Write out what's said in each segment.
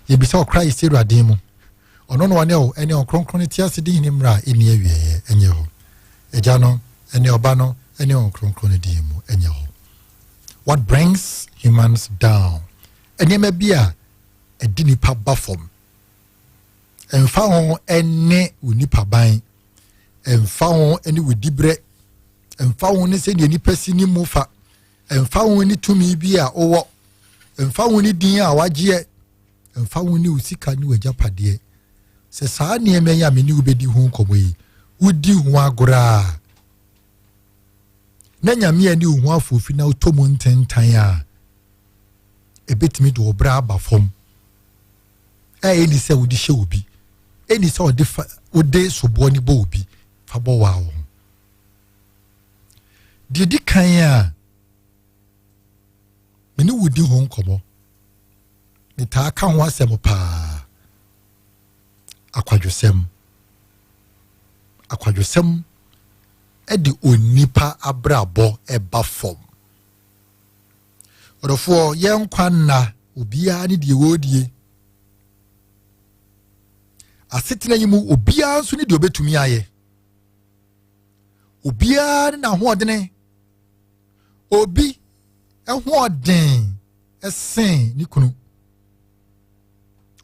Yɛbisa ɔkra yi sɛ Awurade din mu. Ɔno na ɔne wo ne Ɔnkronkron no te ase di hene mmerɛ a ɛnni awieɛ, ɛnyɛ hɔ. Agya no ne Ɔba no ne Ɔnkronkron no din mu, ɛnyɛ hɔ. What brings humans down? Nneɛma bi a ɛde nipa ba fam. Ɛmfa ho ne wo nipa ban, ɛmfa ho ne wo diberɛ, ɛmfa ho ne sɛdeɛ nipa si ne mu fa, Ɛmfa ho ne tumi bi a wowɔ, ɛmfa ho ne din a wagyeɛ, ɛmfa ho ne wo sika ne w'agyapadeɛ, sɛ saa nneɛma yi a me ne wo bɛdi ho nkɔmmɔ yi, wodi ho agorɔ a, na Nyame ani wo ho afoofi na wotɔ mu ntentan a, ɛbɛtumi de ɔbrɛ aba fam. A ɛni sɛ wode hyɛ obi, ɛni sɛ wode soboɔ ne bɔ obi fa bɔ waa wo ho. Deɛ ɛdi kan a me ne wo di ho nkɔmmɔ metaa ka ho asɛm paa akwadwosɛm akwadwosɛm de onipa abrabɔ ɛba fam ɔdɔfoɔ yɛn nkwa nna obiara ne deɛ wɔredie asetena yi mu obiara nso ne deɛ ɔbɛtumi ayɛ obiara ne n'ahoɔdene obi hoɔden sen ne kunu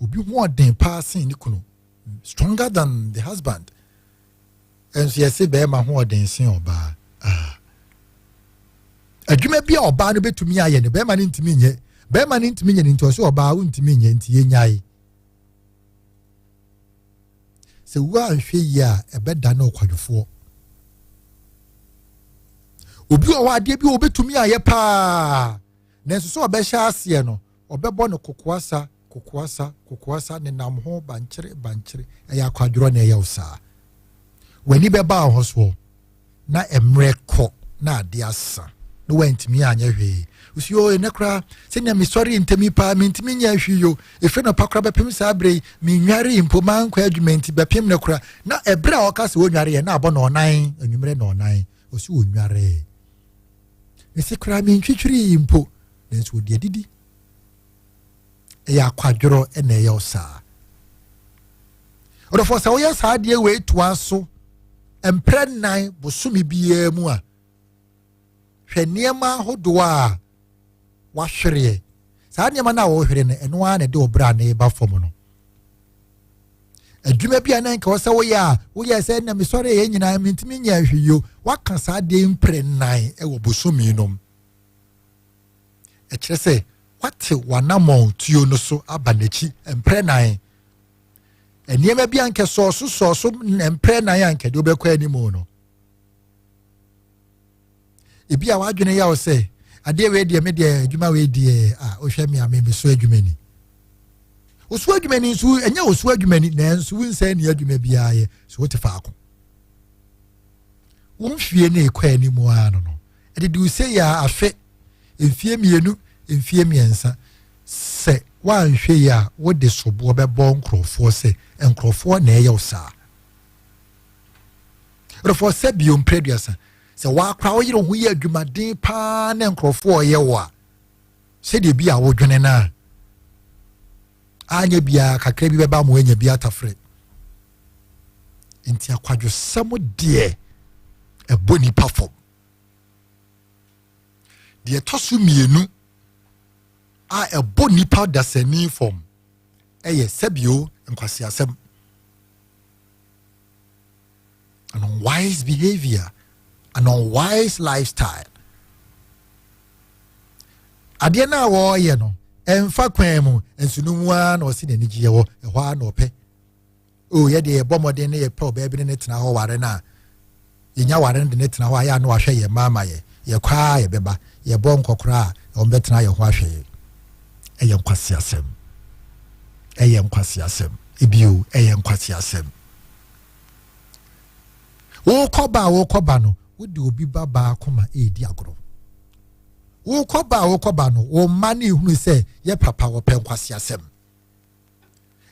obi hoɔden paa sen ne kunu stronger than the husband nso yɛse bɛrima hoɔden sen ɔbaa ah. adwuma bi a ɔbaa no bɛtumi ayɛ no bɛrima no ntumi nyɛ bɛrima no ntumi nyɛ no nti ɔsɛ ɔbaa wontumi nyɛ nti yɛnyae Sɛ woanhwɛ yie a, ɛbɛda no ɔkwadwofoɔ. Obi wɔ hɔ adeɛ bi a ɔbɛtumi ayɛ paa, nanso sɛ ɔbɛhyɛ aseɛ no, ɔbɛbɔ no kokoasa, kokoasa, kokoasa, nenam ho bankyere, bankyere. Ɛyɛ akwadworɔ na ɛyɛ wo saa. W'ani bɛba wo ho soɔ. na mmerɛ kɔ na adeɛ asa na wantumi anyɛ hwee osi o ɛnɛ koraa sɛnea mesɔre ntɛmi paa mentumi nyɛ ahwi yo ɛfiri no pa koraa bɛpem saa berɛ yi menware mpo mankɔ adwuma nti bɛpem no koraa na ɛberɛ a ɔka sɛ ɔnware yɛ na abɔ na ɔnan anwummerɛ na ɔnan ɔsi ɔnwaree mese koraa mentwitwiri mpo nanso ɔde adidi ɛyɛ akwadworɔ na ɛyɛ wo saa ɔdɔfoɔ sɛ woyɛ saa adeɛ wei toa so mprɛ nnan bosome biara mu a hwɛ nneɛma ahodoɔ a wahwereɛ saa nneɛma no a wɔhwere no ɛno ara na ɛde ɔbrɛ a na ɛba fam no adwuma bi a na nka wɔsɛ woyɛ a woyɛ sɛ na mesɔre yɛ nyinaa mentumi nyɛ ahweyio waka saa deɛ mprɛ nnan wɔ bosome nom ɛkyerɛ sɛ woatew w'anammɔn tuo no so aba n'akyi mprɛnan. Nneɛma bi ankɛ sɔɔ so sɔɔ so mprɛnan a nkɛde wobɛkɔ anim no. Ebi a w'adwene yaw sɛ adeɛ wei deɛ me deɛ adwuma wei deɛ a wohwɛ me a me so adwuma ni. Osu adwuma ni nso ɛnyɛ osu adwuma ni nanso wonsɛ ni adwuma biara yɛ so wote faako. Wo mfie ne ekɔ anim ara no no ɛde duru sei a ahwɛ mfie mmienu mfie mmiɛnsa sɛ woanhwɛ yi a wode soboɔ bɛbɔ nkurɔfoɔ sɛ nkurɔfoɔ na ɛyɛ wo saa nkurɔfoɔ sɛ bio mprɛ duasa sɛ woakora wo yere ho yɛ adwumaden paa na nkurɔfoɔ ɔyɛ wo a sɛdeɛ bi a wodwene no a anyɛ biara kakra bi bɛba ma woanya bi atafrɛ nti akwadwosɛm deɛ ɛbɔ nipa fam deɛ ɛtɔ so mmienu a ɛbɔ nipa dasani fam ɛyɛ sɛbio nkwasiasɛm an unwise behavior an unwise lifestyle adeɛ no a wɔreyɛ no ɛmfa kwan mu nso no mu ara na ɔsi n'anigyeɛ wɔ ɛhɔ ara na ɔpɛ o yɛ deɛ yɛbɔ mmɔden ne yɛpɛ ɔbaa bi ne ne tena hɔ ware no a yɛnya ware no de ne tena hɔ a yɛ a na wahwɛ yɛn mma ama yɛ yɛkɔ a yɛbɛba yɛbɔ nkɔkora a wɔbɛtena yɛn ho ahwɛ yɛ ɛyɛ nkwasi asɛm ɛyɛ nkwasi asɛm ebio ɛyɛ nkwasi asɛm wokɔba a wokɔba no wode obi ba baako ma ɛredi agorɔ wokɔba a wokɔba no wo mma no ehunu sɛ yɛ papa wɔpɛ nkwasi asɛm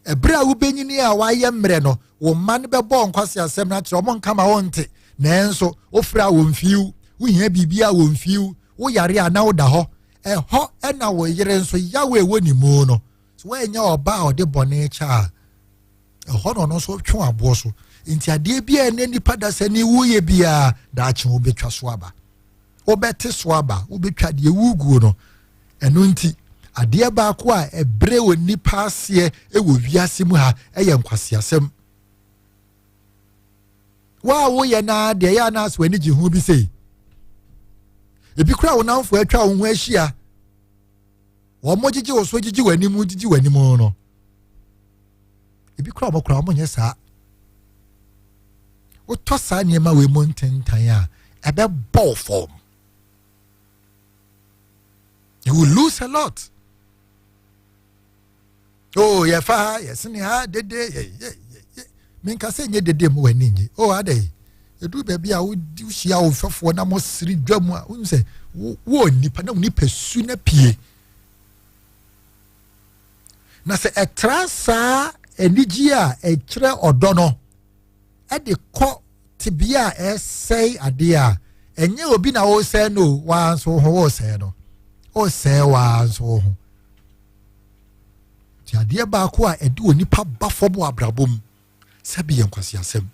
ɛberɛ a wobɛnyini a wɔayɛ mmerɛ no wo mma no bɛbɔ nkwase asɛm no akyerɛ ɔmo nka ma wɔnte nanso wofrɛ a wɔmfiiw wohia biribi a wɔmfiiw woyare a na woda hɔ ɛhɔ ɛna wo yere nso yaw a ɛwɔ ne mu no so woanyɛ ɔba a ɔde bɔne kyɛ a ɛhɔ na ɔno nso twe aboɔ so nti adeɛ bi a ɛnɛ nipa dasani woyɛ biara daakye wobɛtwa so aba wobɛte so aba wobɛtwa deɛ woguo no Ɛno nti, adeɛ baako a ɛbrɛ onipa aseɛ wɔ wiase mu ha yɛ nkwaseasɛm. Wo a woyɛ no ara deɛ ɛyɛ a na asɛ w'ani gye ho bi sei. Ebi kora wo namfo atwa wo ho ahyia. Wɔn gyegye wo so gyegye w'anim gyegye w'anim no. Ebi kora wɔn kora wɔn nyɛ saa. Wotɔ saa nneɛma wei mu ntentan a ɛbɛbɔ fam. You will lose a lot. Oh, yeah, fa, yes, in ha, dede, yeah, yeah, yeah, yeah. Minka sɛ nyɛ dede mu w'ani nye. Oh, adɛ. Edu baabi a wohyia wo mfɛfoɔ na mo siri dwa mu a wonim sɛ wo nipa na wo nipa su na pie. Na sɛ ɛtra saa anigye a ɛkyerɛ ɔdɔ no de kɔ tebea a ɛresɛe adeɛ a ɛnyɛ obi na ɔresɛe no o waa nso ho ɔresɛe no ɔresɛe waa nso ho nti adeɛ baako a ɛde onipa ba fam wɔ abrabɔ mu sɛbi yɛ nkwasi asɛm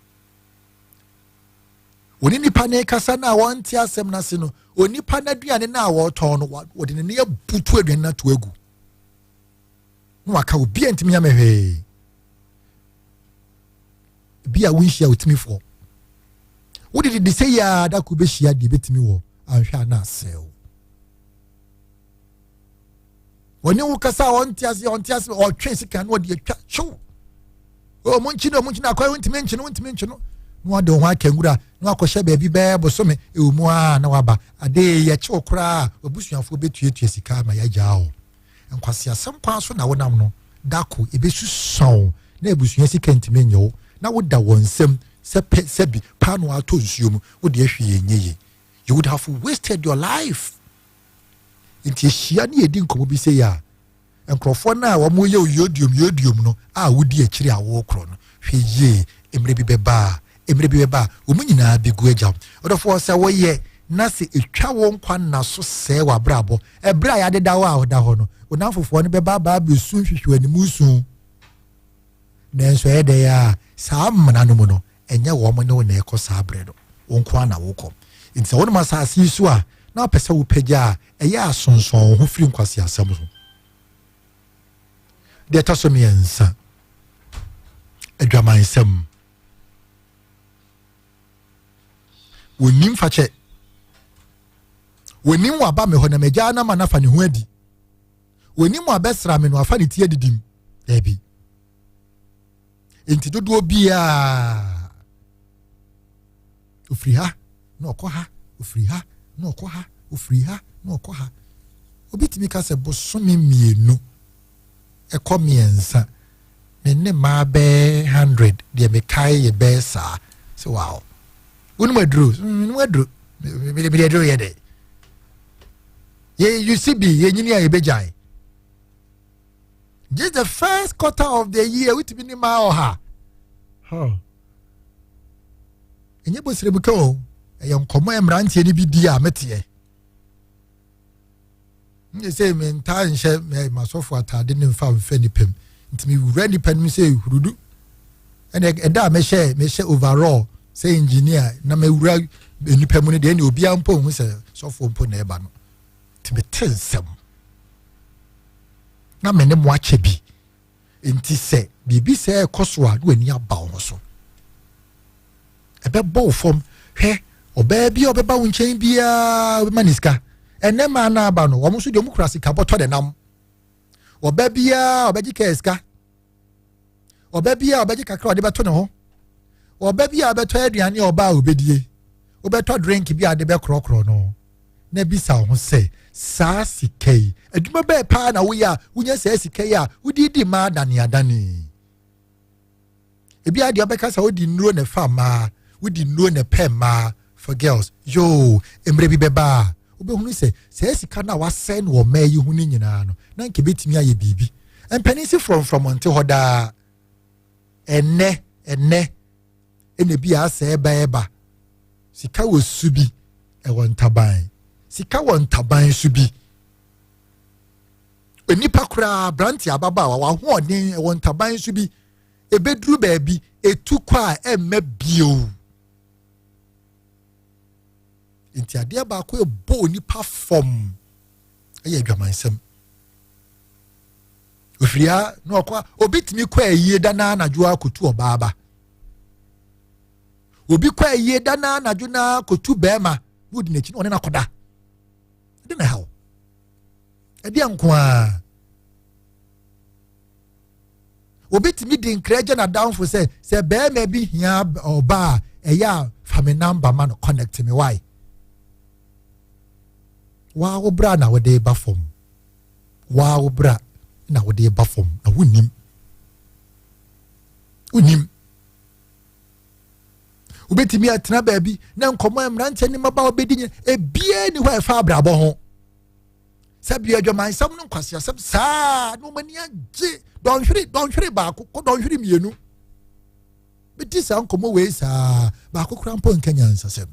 wɔne nipa ne kasa no a wɔnte asɛm no ase no onipa no aduane no a wɔretɔn no wɔde ne ne abutu aduane no ato agu na waka obi a ntumi ame hwee bi a wonhyia otumi fɔ wode dede sɛ yia da ko bɛhyia deɛ bɛtumi wɔ anhwɛ a na asɛw ɔne wo kasa a ɔnte ase ɔnte ase ɔtwe sika no ɔde atwa hyew ɔmo nkyi no ɔmo nkyi no akɔyɛ wontumi nkyi no wontumi nkyi no na wade ho aka nwura na wakɔhyɛ baabi bɛɛ bosome ɛwɔ mu a na waba ade yɛkyew koraa wabusuafoɔ bɛtuatua sika ma yɛagyaa o Nkwaseasɛm paa so na wonam no, da ko ebesusua wo na abusua sika ntumi nyɛ wo na woda wɔn nsam sɛ pɛ sɛ bi paanoo atɔ nsuo mu, wo deɛ hwee nyɛ yie. You would have wasted your life. Nti yɛhyia ne yɛdi nkɔmmɔ bi sɛ yɛ a, nkurɔfoɔ no a wɔyɛ wo yodiom yodiom no a wodi akyiri a wokorɔ no, hwɛ yie, mmerɛ bi bɛba a Mmerɛ bi bɛba a, wɔn nyinaa bɛgu agyaw. Ɔdɔfoɔ, sɛ wɔyɛ na sɛ ɛtwa wo nkwa nna so sɛe w'abrabɔ, ɛberɛ a yɛadeda wo a woda hɔ no, wo nnamfofoɔ no bɛba abaa bɛsu nhwehwɛ w'animu su. Nanso ɛyɛ dɛn a saa mmena no mu no, ɛnyɛ wɔn ne wo na ɛkɔ saa berɛ no, wo nko ara na wokɔ. Enti sɛ wonam asase yi so a, na wopɛ sɛ wopagya a ɛyɛ asonsɔn wo ho firi nkwaseasɛm ho. Deɛ ɛtɔ so mmiɛnsa, adwamansɛm. wɔnnim fakyɛ wɔnim waba me hɔ na magyaa no ama no afa ne ho adi wɔnim wabɛsra me no afa ne ti adidim daabi nti dodoɔ biara ofiri ha na ɔkɔ ha, ofiri ha na ɔkɔ ha, ofiri ha na ɔkɔ ha. Obi tumi ka sɛ bosome mmienu ɛkɔ mmiɛnsa me ne mmaa bɛɛ hundred deɛ mekae yɛ bɛɛ saa sɛ wow wonom aduro menom aduro mede aduro yɛ dɛ yɛ ucb yɛnyini a yɛbɛgyae just the first quarter of the year wotumi ne maa ɔha ɛnyɛ bɔ srɛ mu ka o ɛyɛ nkɔmmɔ ɛ mmeranteɛ no bi di a meteɛ ne sɛ mentaa nhyɛ masɔfo atade no mfa mfa nipa mu nti mewura nipa no mu sɛ hurudu ɛna ɛda a mɛhyɛ mɛhyɛ overall sɛ engineer na mɛwura nipa mu no deɛ ɛne obiara mpo hu sɛ sɔfo mpo na ɛba no nti mete nsɛm na me ne mo akyɛ bi nti sɛ biribi sɛ ɛkɔ so a na w'ani aba wo ho so ɛbɛbɔ wo fam hwɛ ɔbaa bi a ɔbɛba wo nkyɛn biara ɔbɛma ne sika ɛnɛ maa no aba no wɔn nso deɛ wɔn kura sika bɔtɔ de nam ɔbaa biara ɔbɛgye kɛɛ sika ɔba bi a ɔbɛgye kakra ɔde bɛto ne ho ɔba bi a ɔbɛtɔ aduane a ɔba a ɔbɛdie wobɛtɔ drink bi a de bɛkorɔkorɔ no na bisa wo ho sɛ saa sika yi adwuma bɛɛ paa na woyɛ a wonya saa sika yi a wode di mmaa adaneadane ebi a deɛ ɔbɛka sɛ wodi nnuro na ɛfa mmaa wodi nnuro na ɛpɛ mmaa for girls yoo mmerɛ bi bɛba a wobɛhunu sɛ saa sika no a wasɛe no wɔ mmaa yi ho no nyinaa no na nka ɛbɛtumi ayɛ biribi mpanin si frɔmfrɔm nte hɔ daa ɛnɛ ɛnɛ ɛna bi a asɛ ɛba ɛba sika wɔ su bi ɛwɔ ntaban sika wɔ ntaban su bi nipa koraa aberante ababaawa wahoɔden ɛwɔ ntaban su bi ɛbɛduru baabi ɛtu kɔ a ɛmma bio nti adeɛ baako ɛbɔ onipa fam ɛyɛ adwamansɛm ofiria na ɔkɔ obi tumi kɔ ayie da na anadwo akɔtu ɔbaa ba obi kɔ ayie da na anadwo na akɔtu bɛrima na ɔdi n'akyi na ɔne no akɔda ɛde na ɛhaw ɛdeɛ nko ara obi tumi di nkira gya n'adamfo sɛ sɛ bɛrima bi hia ɔbaa a ɛyɛ a fa me namba ma no connect me wae waa wo bra na wode ba fam waa wo bra na wode ba fam na wonim wonim wobɛtumi atena baabi na nkɔmmɔ a mmeranteɛ ne mmaba wobɛdi nyina ebiaa ni hɔ a ɛfa abrabɔ ho sɛ bia adwamansɛm no nkwaseasɛm saa na ɔmani agye dɔnhwere dɔnhwere baako kɔ dɔnhwere mmienu medi saa nkɔmmɔ wei saa baako kora mpo nka nyansasɛm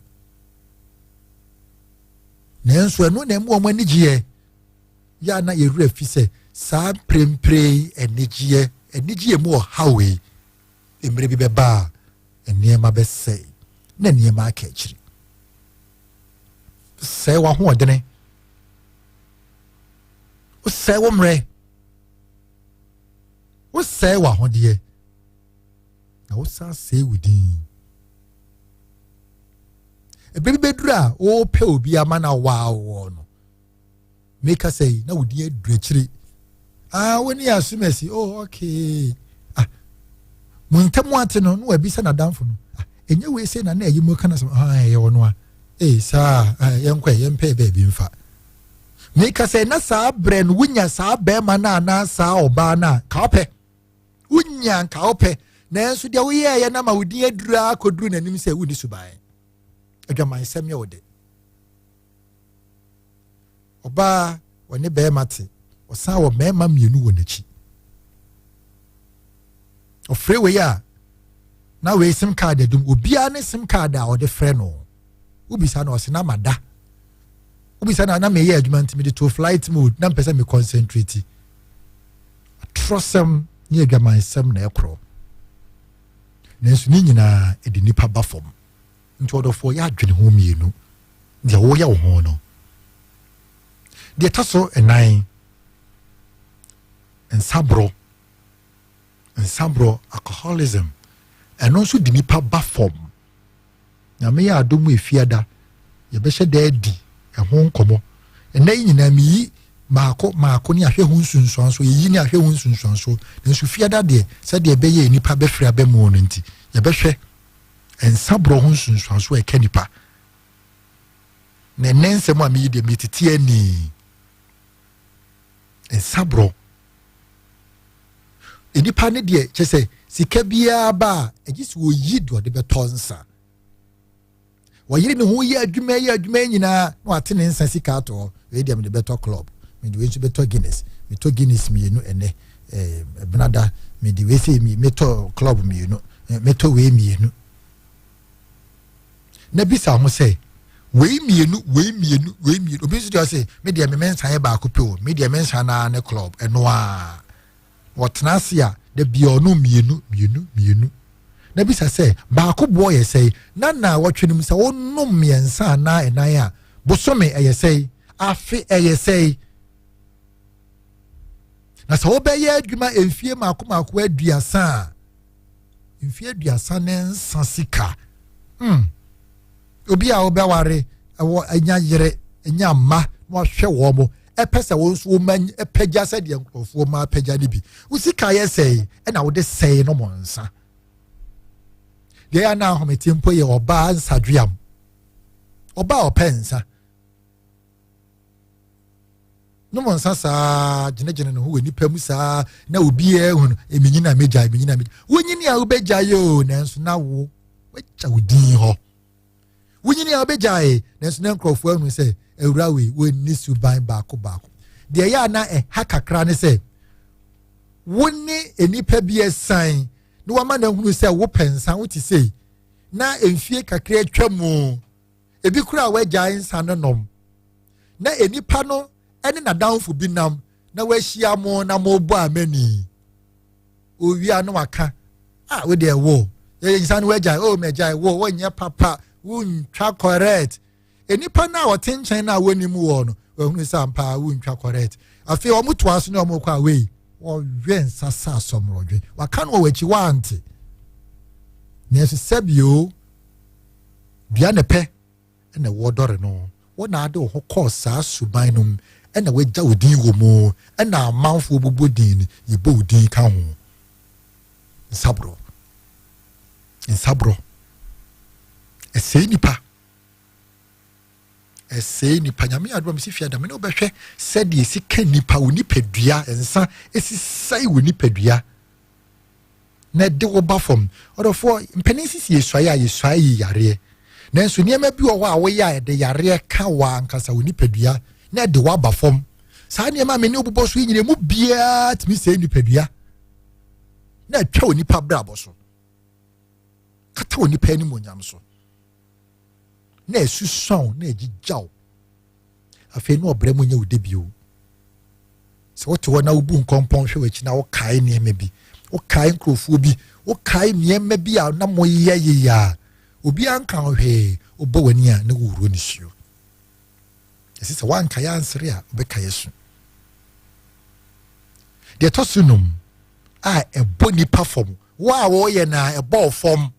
nanso ɛno na ɛmu wɔn anigyeɛ yɛ a na yɛwerɛ fi sɛ saa mprempren anigyeɛ anigyeɛ mu ɔhaw yi mmerɛ bi bɛbaa nneɛma bɛsɛe na nneɛma aka akyiri. Sɛe w'ahoɔdene, wosɛe wo mmerɛ, wosɛe w'ahodeɛ, na wosan sɛe wo din. Ebi bɛduru a wɔrepɛ obi ama na wɔawoɔ no. me kasa yi na wodi aduru akyire ah wo ne asum asi oh okay ah mo ntam ate no na wabisa n'adanfo no ah ɛnyɛ wei sɛ na na ɛyi mu kana sɛ ah ɛyɛ ɔno a ee saa ah yɛnkɔ ɛ yɛmpɛ baabi mfa me kasa na saa brɛ no wonya saa bɛrima no anaa saa ɔbaa no a ka ɔpɛ wonya nka ɔpɛ nanso deɛ woyɛɛyɛ no ama wodin aduru akɔduru n'anim sɛ wonni suban adwamansɛm yɛ wo de ɔbaa wɔne bɛrima te ɔsan wɔ mmarima mmienu wɔ n'akyi ɔfrɛ wei a na wei sim card adum obiara ne sim card a ɔde frɛ no wobisa na ɔsɛ na ma da wobisa na na meyɛ adwuma nti mede to flight mode na mpɛ sɛ me concentrate atorɔsɛm ne adwamansɛm na ɛkorɔ nanso ne nyinaa ɛde nipa ba fam Nti ɔdɔfoɔ yɛ adwene ho mmienu deɛ woyɛ wo ho no. Deɛ ɛtɔ so nnan, nsaborɔ. Nsaborɔ, alcoholism, ɛno nso de nipa ba fam. Nyame yɛ adom efiada, yɛbɛhyɛ da adi ɛho nkɔmɔ. Ɛnna yi nyinaa meyi maako maako ne ahwɛ ho nsunsuanso yɛyi ne ahwɛ ho nsunsuanso nanso fiada deɛ sɛdeɛ ɛbɛyɛ nipa bɛfiri abɛmuo no nti yɛbɛhwɛ nsaborɔ ho nsunsuanso a ɛka nipa na ɛnɛ nsɛm a meyi deɛ metete ani nsaborɔ nipa ne deɛ kyɛ sɛ sika biara ba a ɛgye sɛ wɔyi deɛ ɔde bɛtɔ nsa wɔyere ne ho yɛ adwuma yɛ adwuma yi nyinaa na wate ne nsa sika ato hɔ wei deɛ mede bɛtɔ club mede wei nso bɛtɔ guinness metɔ guinness mmienu ɛnɛ ɛbenada eh, mede wei sɛ metɔ club mmienu eh, metɔ wei mmienu na bisa ho sɛ wei mmienu wei mmienu wei mmienu obi nso deɛ ɔsɛ me deɛ me mensa yɛ baako pɛ o me deɛ mensa naa ne club ɛnoaa Wɔtena ase a, da biara ɔnom mmienu mmienu mmienu. Na bisa sɛ, Baako boɔ yɛ sɛe? Na nnawɔtwe no mu sɛ wonom mmiɛnsa anaa ɛnan a, bosome ɛyɛ sɛe? Afe ɛyɛ sɛe? Na sɛ wobɛyɛ adwuma mfie mmaako mmaako aduasa a, mfe aduasa ne nsa sika hmm obi a wobɛware ɛwɔ anya yere anya mma na wahwɛ wɔn mo ɛpɛ sɛ wɔn nso wɔn anyi ɛpɛgya sɛdeɛ nkurɔfoɔ ma apɛgya no bi wosika yɛ sɛe ɛna wode sɛe no mo nsa deɛ yɛ na ahomete mpo yɛ ɔbaa nsadweam ɔbaa ɔpɛ nsa ne mo nsa saa gyinagyina ne ho wɔ nipa mu saa na obiara hu no eminyi na megya eminyi na megya wonyini a wobɛgya yɛ o nanso na wo wagya wo din hɔ wonyini a wobɛgya yɛ nanso na nkurɔfoɔ ahunu sɛ awura wei wɔnni suban baako baako deɛ yɛ a na ɛha kakra ne sɛ wo ne nnipa bi ɛsan na wama no ahunu sɛ wopɛ nsa wote sei na mfie kakra atwa mu ebi koraa wagyae nsa no nom, na nnipa no ne n'adamfo bi nam na wahyia mo na mobɔ amani. Owia no waka, a ah, wode ɛwo, yɛyɛ nsa no wagyae, o oh, magyae wo, wonyɛ papa, wontwa correct. Nnipa no a wɔte nkyɛn no a wɔnim wɔ no, wɔahunu sɛ ampaa wontwa correct. Afei wɔn to aso ne wɔn kɔ away, wɔwe nsa sɛ asɔmorɔdwe, waka no wɔ wɔn akyi wɔante. Nanso sɛbio Dua ne pɛ na ɛwɔ dɔre no. Wo na ade wo ho kɔɔ saa suban no mu na wɔagya wo din wɔ mu na amanfoɔ bobɔ din no, yɛbɔ wo din ka ho. Nsaborɔ. Nsaborɔ. Ɛsɛe nnipa. Ɛsɛe nnipa. Nyame adoma mesi fie ada me ne wobɛhwɛ sɛdeɛ ɛsi ka nnipa, wo nipadua, nsa ɛsi sɛe wo nipadua. na ɛde wo ba fam ɔdɔfoɔ mpanin sisi yɛsuaeɛ a yɛsuaeɛ yi yareɛ nanso nneɛma bi wɔ hɔ a woyɛ a ɛde yareɛ ka wɔ ankasa wo nipadua na ɛde woaba fam saa nneɛma me ne wobobɔ so yi nyina mu biara tumi sɛe nipadua na atwa onipa brabɔ so kata onipa anim onyam so na ɛsusua wo na ɛgyigya wo afei na ɔbrɛ mu nyɛ wo de bio sɛ wote hɔ na wobu nkɔmpɔn hwɛ w'akyi na wokae nneɛma bi wokae nkurɔfoɔ bi wokae nneɛma bi a na moyɛ yeye a obiara nka ho hwee wobɔ w'ani a na wowuro ne suo ɛsɛ sɛ woankaeɛ ansere a wobɛkaeɛ so deɛ ɛtɔ so num a ɛbɔ nipa fam wo a wɔyɛ no a ɛbɔ fam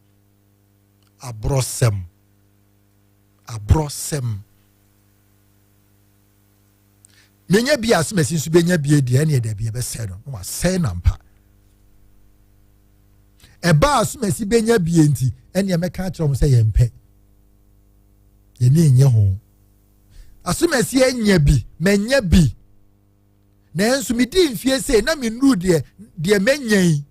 aborɔsɛm, aborɔsɛm. Menya bi ase masi nso benya bi adi ɛne ɛda bi ɛbɛsɛe no na wasɛe no ampa. Ɛbaa so masi benya bi nti ɛne ɛmɛka akyerɛ wɔn sɛ yɛn pɛ yɛn ni nyɛ ho. Asomasi anya bi manya bi nanso medii mfeɛ sei na mennuru deɛ deɛ mɛnya yi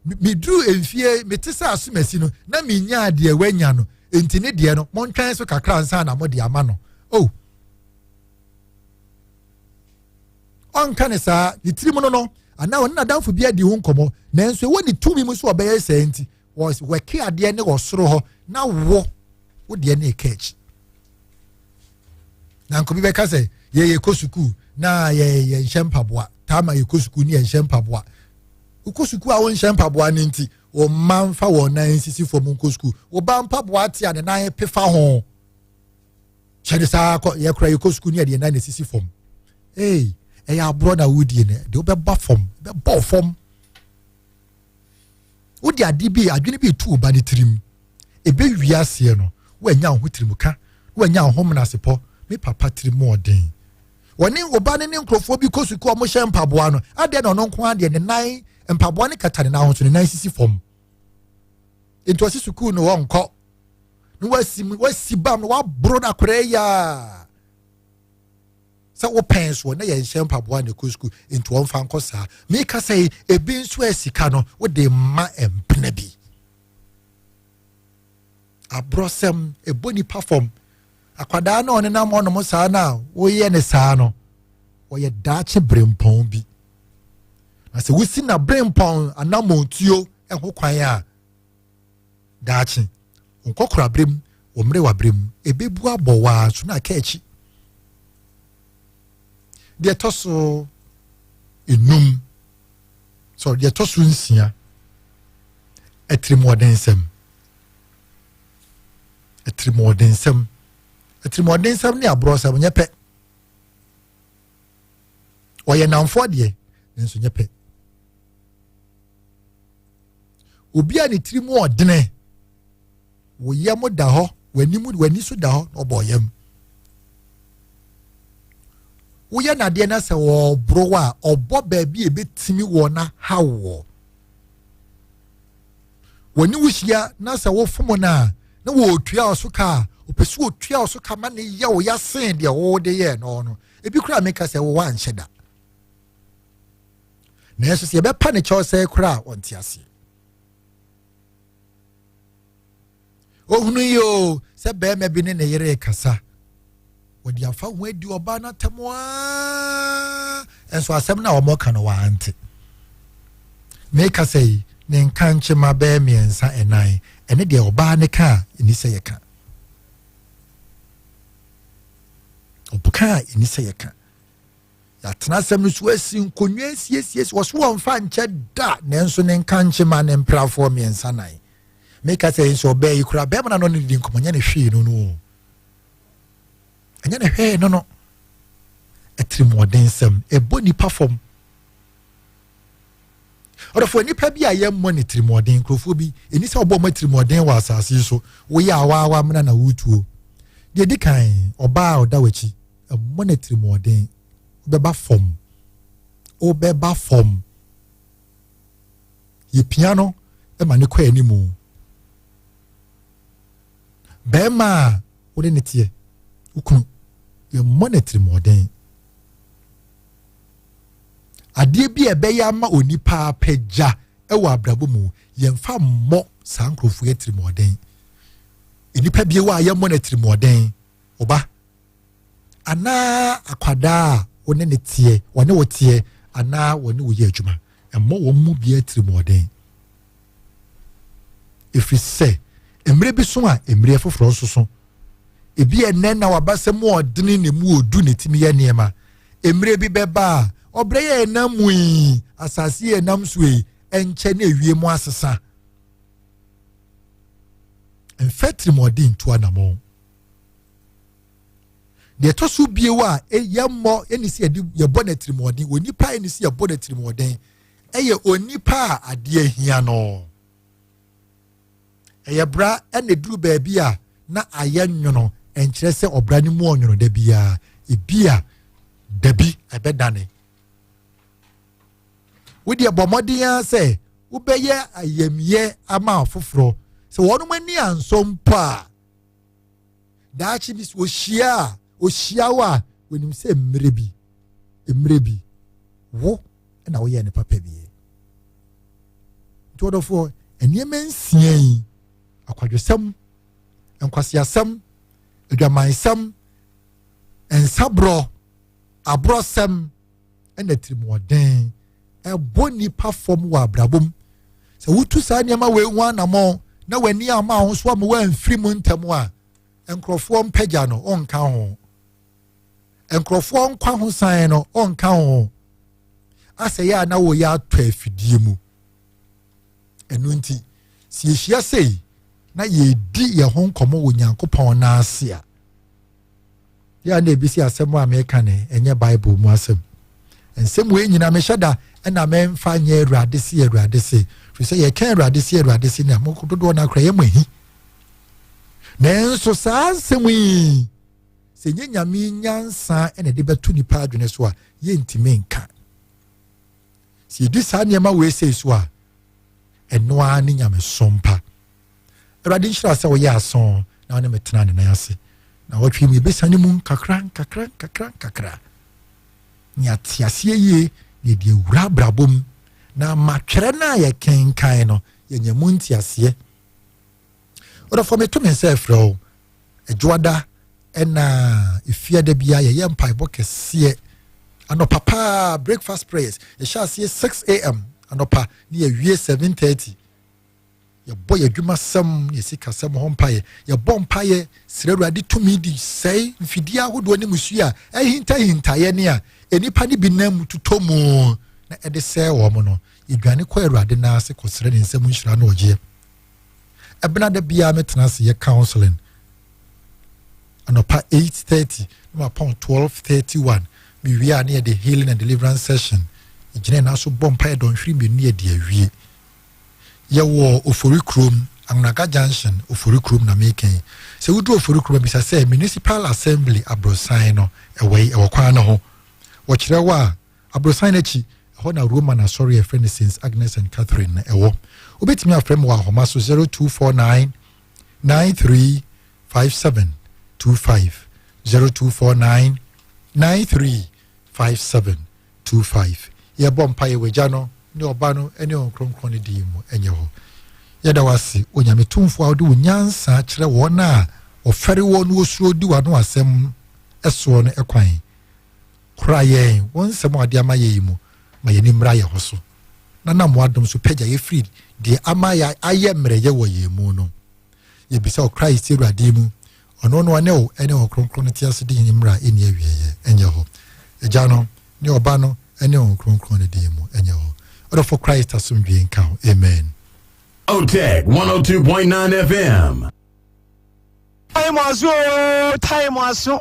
meduru mfeɛ mete sɛ asomasi no na menyaa deɛ wanya no nti ne deɛ no montwɛn so kakra nsa na mode ama no o oh. ɔnka ne saa ne tirim no no anaa ɔne n'adamfo bi adi ho nkɔmmɔ nanso ɛwɔ ne tumi mu sɛ ɔbɛyɛ saa nti wɔaki adeɛ ne wɔ soro hɔ na wo wo deɛ ne ɛka akyi na nkobi bɛka sɛ yɛyɛ kɔ sukuu na yɛyɛ nhyɛ mpaboa taa ma yɛkɔ sukuu ne yɛnhyɛ mpaboa wokɔ sukuu a wonhyɛ mpaboa no nti wɔn mma nfa wɔn nan nsisi fam nkɔ sukuu wɔba mpaboa te a ne nan pefa ho hyɛ ne saa kɔ yɛkora yɛkɔ sukuu ne yɛde nan na esisi fam ee ɛyɛ aborɔ na wodie no de wobɛba fam bɛbɔ fam. wode adeɛ bi adwene bi tu ɔba ne tirim ɛbɛwie aseɛ no woanya wo ho tirim ka na woanya wo ho menasepɔ me papa tirim ɔden wɔne ɔba ne ne nkurɔfoɔ bi kɔ sukuu ɔmo hyɛ mpaboa no adeɛ na ɔno nko adeɛ ne nan mpaboa ne kata ne nan ho so ne nan sisi fam nti ɔsi sukuu no wɔnkɔ na wasi wasi bam na waboro no akorɛ yaa sɛ wopɛn soɔ na yɛnhyɛ mpaboa na ɛkɔ sukuu nti wɔmfa nkɔ saa meka sɛ ebi nso a sika no wode mma mpena bi aborɔsɛm ɛbɔ nipa fam akwadaa na ɔne nam ɔnom saa no a woyɛ ne saa no wɔyɛ daakye berempɔn bi na sɛ wosi na berempɔn anammɔntuo ho kwan a Daakye, wo nkɔkoraaberɛ mu, wo mmerewaberɛ mu, ɛbɛbu abɔ wo ara nso na aka akyi. Deɛ ɛtɔ so enum, sorry, deɛ ɛtɔ so nsia, atirimuɔdensɛm. Atirimuɔdensɛm. Atirimuɔdensɛm ne aborɔsɛm nyɛ pɛ. Ɔyɛ namfoɔ deɛ, nanso nyɛ pɛ. obi a ne tiri mu ɔdene wo yam da hɔ w'anim w'ani so da hɔ na ɔbɔ yam woyɛ nadeɛ na sɛ ɔboro a ɔbɔ baabi a ebetumi wɔ na ha wɔ wɔne wo hyia na sɛ wofom no a na wɔretua wo so ka a ɔpɛ sɛ ɔtua wo so ka ma ne yɛ wo yɛasen deɛ wode yɛɛ no no ebi koraa meka sɛ wowɔ anhyɛ da nanso sɛ yɛbɛpa ne kyɛw sɛe koraa a ɔnte aseɛ ohunu yi o sɛ bɛrima bi ne ne yere rekasa wɔde afa ho adi ɔbaa no atam aa nso asɛm no a wɔka no wɔante meka sɛ yi ne nka nkyema bɛɛ mmiɛnsa ɛnan ɛne deɛ ɔbaa ne ka a ɛni sɛ yɛka ɔka a ɛni sɛ yɛka yɛatena asɛm no so asi nkonnwa asiesie so wɔso wɔmfa nkyɛ da nanso ne nka nkyema ne mprafoɔ mmiɛnsa nan meka sɛ nso ɔbaa yi koraa bɛrima no ano ne di nkɔmmɔ nyɛ ne hwee no no ɛnyɛ ne hwee no no atirimuɔdensɛm ɛbɔ nipa fam ɔdɔfoɔ nipa bi a yɛmmɔ ne tirimɔden nkurɔfoɔ bi ɛni sɛ ɔbɔ ɔma tirimɔden wɔ asase yi so woyɛ awaawa mena na wotuo deɛ di kan ɔbaa a ɔda w'akyi ɛmmɔ ne tirimɔden wobɛba fam wobɛba fam yɛpia no ma ne kɔ anim bɛrima a wode ne teɛ wokunu yɛmmɔ ne tirimɔden adeɛ bi a ɛbɛyɛ ama onipa apɛgya wɔ abrabɔ mu yɛmfa mmɔ saa nkurɔfoɔ atirimuɔden nnipa bi wɔ a yɛmmɔ no atirimuɔden ɔba anaa akwadaa a wɔne ne teɛ wɔne wo teɛ anaa wɔne wo yɛ adwuma mmɔ wɔn mu bi atirimuɔden ɛfiri sɛ mmerɛ bi so a mmerɛ foforɔ nso so ebi ɛnɛ na waba sɛ mu ɔdene na mu ɔdu na ɛtumi yɛ nneɛma mmerɛ bi bɛba a ɔbrɛ yɛ ɛnam mu yi asase yɛ ɛnam so yi ɛnkyɛ ne ɛwie mu asesa mfɛ tirimɔden ntu anamɔ deɛ ɛtɔ so bio a yɛmmɔ ɛne sɛ yɛbɔ no atirimɔden wɔ nipa ɛne sɛ yɛbɔ no atirimɔden yɛ onipa a adeɛ hia no. Ɛyɛ bra na ɛduru baabi a na ayɛ nwono ɛnkyerɛ sɛ ɔbra no mu ɔnwono da biara. Ebi a dabi ɛbɛdane. Wodeɛ bɔ mmɔden ara sɛ wobɛyɛ ayamyɛ ama afoforɔ sɛ wɔnom ani ansɔ mpo a daakye bi so ohyia a ohyia wo a wɔnim sɛ mmerɛ bi mmerɛ bi wo na woyɛ ne papa bi nti ɔdɔfoɔ nneɛma nsia yi akwadwosɛm nkwaseasɛm adwamansɛm nsaborɔ aborɔsɛm na atirimuɔden ɛbɔ nnipa fam wɔ abrabɔ mu sɛ wotu saa nneɛma wei ho anammɔn na w'ani ama ahosuo ama w'amfiri mu ntɛm a nkurɔfoɔ mpagya no ɔnka ho nkurɔfoɔ nkwa ho san no ɔnka ho asɛ yɛ a na wɔyɛ atɔ afidie mu ɛno nti sɛ yɛhyia sei na yɛdi yɛn ho nkɔmmɔ wɔ nyankopɔn n'ase a yɛ na ebi si asɛm a meka no ɛnyɛ bible mu asɛm nsɛm wei nyinaa mehyɛ da ɛna memfa nyɛ awurade se awurade se firi sɛ yɛka awurade se awurade se na dodoɔ no akora yɛma hi nanso saa nsɛm yi sɛ nyɛ nyame nyansa ɛna de bɛto nipa adwene so a yɛntumi nka sɛ yɛdi saa nneɛma wei sei so a ɛno ara ne nyamesom pa Awurade nhyira sɛ woyɛ asõ na wo ne me tena ne nan ase. Na wɔtwe mu yɛbɛsane mu nkakra nkakra nkakra nkakra. Ne ate aseɛ yie na yɛde awura abrabɔ mu na ama twerɛ no a yɛkenkan no yɛnya mu nteaseɛ. Ɔdɔfoɔ meto me nsa ɛfrɛ wo adwoada ɛna efiada biara yɛyɛ mpaebɔ kɛseɛ anɔpa paa breakfast prayers yɛhyɛ aseɛ 6 am anɔpa ne yɛwie 7:30 yɛbɔ yɛ adwumasɛm ne yɛ sikasɛm ho mpaeɛ yɛbɔ mpaeɛ srɛ awurade tumi de sɛe mfidie ahodoɔ ne musuo a ahintahintaeɛ ne a nnipa no bi nam mu totɔ mu na ɛde sɛe wɔn no yɛdwane kɔ awurade nan ase kɔsrɛ ne nsɛm nhyira ne ɔgyeɛ ɛbena da biara metena ase yɛ counseling anɔpa 8:30 na mapɔn 12:31 mewie a ne yɛde healing and deliverance session ɛgyina ɛna so bɔ mpaeɛ dɔnhwere mmienu yɛde awie Yɛwɔ Ofori kurom, Anwonaga Junction, Ofori kurom na meka yi. Sɛ woduru Ofori kurom a, bisa sɛ Municipal Assembly aborosan no ɛwɔ yi, ɛwɔ kwan no ho. Wɔkyerɛ wo a, aborosan no akyi, ɛhɔ na Roman asɔre a ɛfrɛ no Saints Agnes and Catherine no ɛwɔ. Wobɛtumi afrɛ me wɔ ahoma so 0249 935725, 0249 935725. Two five, Yɛbɔ mpaeɛ wɔ Agya no, ne Ɔba no, ne Honhom Kronkron no din mu, ɛnyɛ hɔ. Yɛda wo ase, Onyame Tumfoɔ a wode wo nyansa kyerɛ wɔn a wɔfɛre woɔ na wɔsuro di w'ano asɛm soɔ no kwan. Kora yɛn wɔ nsɛm a wode ama yɛn yi mu, ma yɛn ani mmra yɛn ho so, na nam w'adom so pagya yɛn firi deɛ ama yɛn ayɛ mmerɛyɛ wɔ yɛn mu no. Yɛbisa wɔ Christ Awurade mu. Ɔno no ne wo ne Honhom Kronkron no tease din ne mmara a ɛnni awieɛ ɛnyɛ hɔ. Agya no, ne Ɔba no, ne Honhom Kronkron no din mu ɛnyɛ hɔ. Ɔdɔfo Christ asomdwie nka wo. Amen. Oteg 102.9 FM. Time aso oo time aso